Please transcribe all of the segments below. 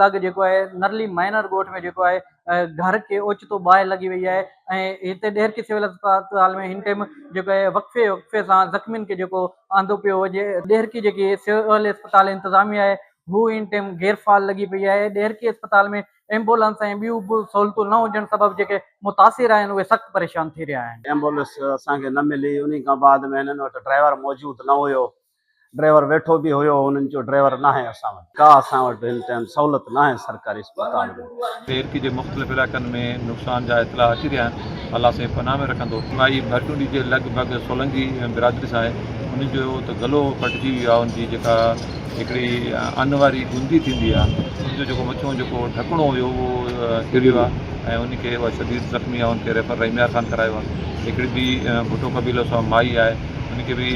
لڳ جيڪو آهي نرلي مائنر ڳوٺ ۾ جيڪو آهي گهر کي اوچتو باهه لڳي وئي آهي ۽ هتي ڏهرڪي سول اسپتال ۾ هن ٽيم جيڪو آهي وقفي وقفي سان زخمين کي جيڪو آندو پيو وڃي ڏهرڪي جيڪي سول اسپتال انتظاميه آهي هو هن ٽيم غير فعال لڳي پئي آهي ڏهرڪي اسپتال ۾ ايمبولنس ۽ ٻيون به سهولتون نه هجڻ سبب جيڪي متاثر آهن اهي سخت پريشان ٿي رهيا آهن. ايمبولنس اسان کي نه ملي انهي کان بعد ۾ هنن وٽ ڊرائيور موجود نه هيو ڊرائيور ويٺو به هيو انهن چيو ڊرائيور ناهي اسان وٽ ڪا اسان وٽ هن ٽائيم سهولت ناهي سرڪاري اسپتال ۾. پيرڪي جي مختلف علائقن ۾ نقصان جا اطلاع اچي رهيا آهن الله سائين پناهه ۾ رکندو. مائي ڀرٽونڊي جي لڳ ڀڳ سولنگي برادري سان آهي انهن جو ته گلو ڦٽجي ويو آهي ان جي جيڪا هڪڙي ان واري گندي ٿيندي آهي ان جو جيڪو مٿيون جيڪو ڍڪڻو هيو اهو ڪريو آهي ۽ ان کي اها شديد زخمي آهي ان کي ريفر رحيم يار خان ڪرايو آهي هڪڙي ٻي ڀٽو قبيلو سان مائي آهي ان کي به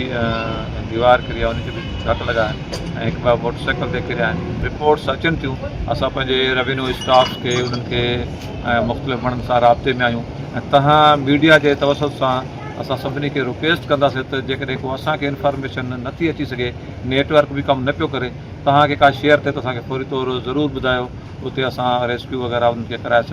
ديوار ڪري آهي ان کي به ڇت لڳا آهن ۽ هڪ ٻه موٽر سائيڪل تي ڪريا آهن رپورٽس اچن ٿيون اسان پنهنجي ريونيو اسٽاف کي انهن کي ۽ مختلف ماڻهن سان رابطي ۾ آهيون ۽ تهان ميڊيا جي توسط سان اسان سڀني کي رڪويسٽ ڪنداسين ته جيڪڏهن ڪو اسان کي انفارميشن نٿي اچي سگهي نيٽ ورڪ به ڪم نه پيو ڪري تهان کي ڪا شيئر ٿئي ته اسان کي فوري طور ضرور ٻڌايو اتي اسان ريسڪيو وغيره انهن کي ڪرائي سگهون